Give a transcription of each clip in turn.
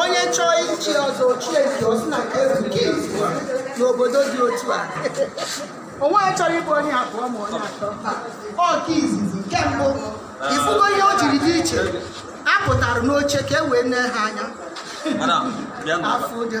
onye chọọ ichi ọzọ o chie nke ọsị na nke ezu nke izu n'obodo dị otu a onwe ya chọrọ ịbụ onye abụọ ma onye atọ ọ nke izizi nke mbụ ị fugo ihe o jiri dị iche a pụtara n'oche ka e wee nee ha anya Madam, bịa nụ. afọ ụjọ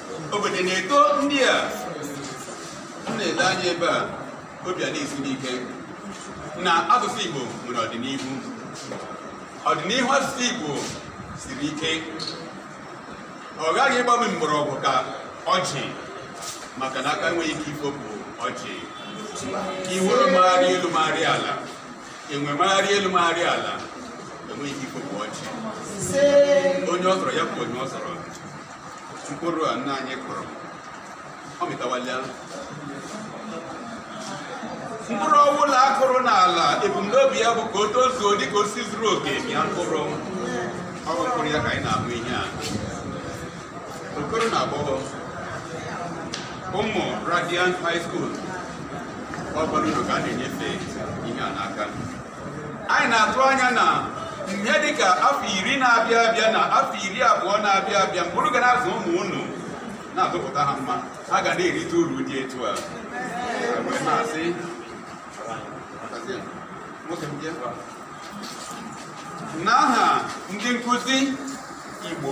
obodo na-eto ndị a m na-ele anya ebe a obi ana-esi m ike na asụsụ Igbo nwere ọdịnihu ọdịnihu asụsụ Igbo siri ike ọ ghaghị ịgbanye mgbọrọgwụ ka ọjị maka na aka enweghị ike ifopụ ọjị iwere magharị elu magharị ala enwe magharị elu magharị ala enweghị ike ifopụ ọjị onye ọ sọrọ ya bụ onye ọ sọrọ mkpụrụ a nna anyị kụrụ ọ mịtawala mkpụrụ ọbụla a kụrụ n'ala ebumnobi ya bụ ka o tozuo dị ka osisi zuru oke mịa mkpụrụ ọ bụ mkpụrụ ya ka anyị na-ahụ ihe a okoro na agbọghọ ụmụ radiant high school ọ bụrụ na ka a na-enyefe ihe a n'aka anyị na-atụ anya na ihe dịka afọ iri na-abịa abịa na afọ iri abụọ na-abịa abịa mgbe unu ga na-azụ ụmụ unu na-azụpụta ha mma ha ga na-erite uru dị etu a wee na-asị n'aha ndị nkụzi Igbo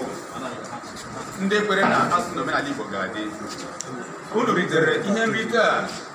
ndị kwere na asụsụ na omenala Igbo ga-adị unu ritere ihe nrite a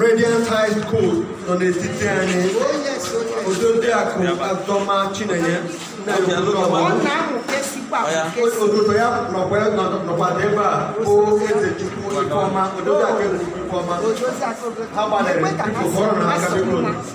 Radiant High School nọ n'etiti anyị Odoziakụ Azọma Chinenye ododo ya nọkwa ya nọkwa ebe a bụ Ezechukwu Ifeọma Odoziakụ Ezechukwu Ifeọma ha gbalịrị biko kụọrọnụ ha aka biko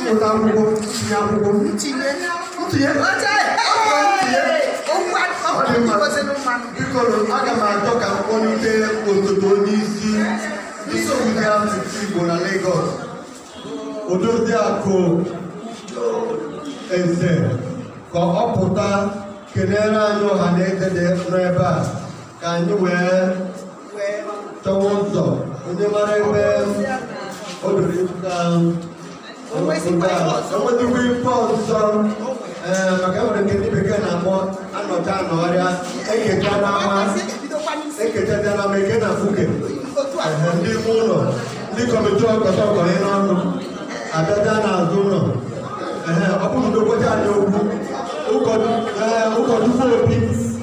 mmụta akwụkwọ ntinye akwụkwọ ntinye ntinye biko aga m achọ ka m kpọlite osote onye isi nsogbu dị asụsụ Igbo na Lagos Odoziakụ Eze ka ọ pụta kelere anyị ọha na eze dị n'ebe a ka anyị wee chọwa ụzọ onye mara ebe o doro ịzụta enwetakwa ife ọzọ ee maka enwere nke ndị bekee na-akpọ anọcha anọ ọrịa e kechaa n'ama e kechachaa n'ama e kee na mkpuke Ehe, ndị ime ụlọ ndị kọmitii ọkọta ọkọrị n'ọnụ abịacha n'azụ ụlọ Ehe, ọ bụrụ na udokwacha anyị okwu ụkọchukwu obi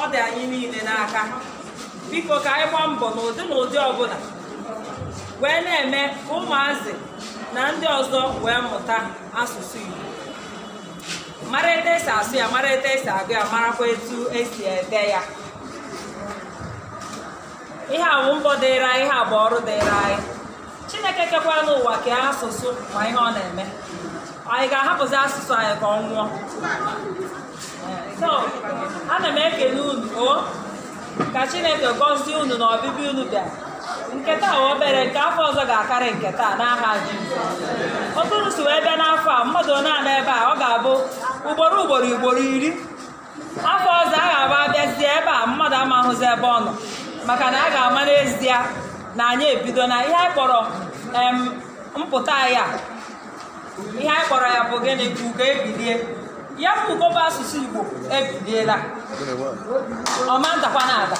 ọ dị anyị niile n'aka biko ka anyị gbaa mbọ n'ụdị na ụdị ọbụla wee na-eme ka ụmụazị na ndị ọzọ wee mụta asụsụ Igbo mara etu esi asụ ya mara etu esi agụ ya marakwa etu esi ede ya ihe a bụ mbọ dịịrị anyị ihe a bụ ọrụ dịịrị anyị chineke kekwaranụ ụwa kee asụsụ ma ihe ọ na-eme anyị ga-ahapụzi asụsụ anyị ka ọ nwụọ so ana m ekele unu o ka chineke gọzie unu na ọbịbịa unu bịara nke taa obere nke afọ ọzọ ga-akarị nke taa n'aha Jizọs otu unu si wee bịa n'afọ a mmadụ na-anọ ebe a ọ ga-abụ ugboro ugboro ugboro iri afọ ọzọ a ga-abịa abịazie ebe a mmadụ ama ahụzi ebe ọ nọ maka na a ga-ama n'ezie na anyị ebidola ihe anyị kpọrọ em, mpụta anyị a ihe anyị kpọrọ ya bụ gịnị ka ugo ebilie ya bụ ugo bụ asụsụ igbo ebiliela ọ ma adakwanụ ada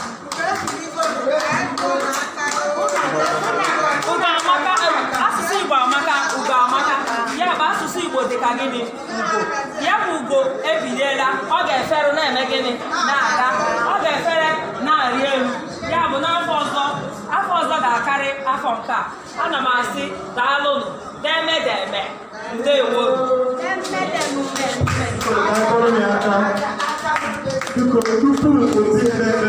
ugo amaka asụsụ igbo amaka ugo amaka ya bụ asụsụ igbo dị ka gịnị ya bụ ugo ebiliela ọ ga-efere na-eme gịnị na-aga ọ ga-efere na-arị elu ya bụ n'afọ ọzọ afọ ọzọ ga-akarị afọ nke a ana m asị daalụnụ deeme deeme ndewo A kụọrọ ya aka. Biko, tupu o si n'ebe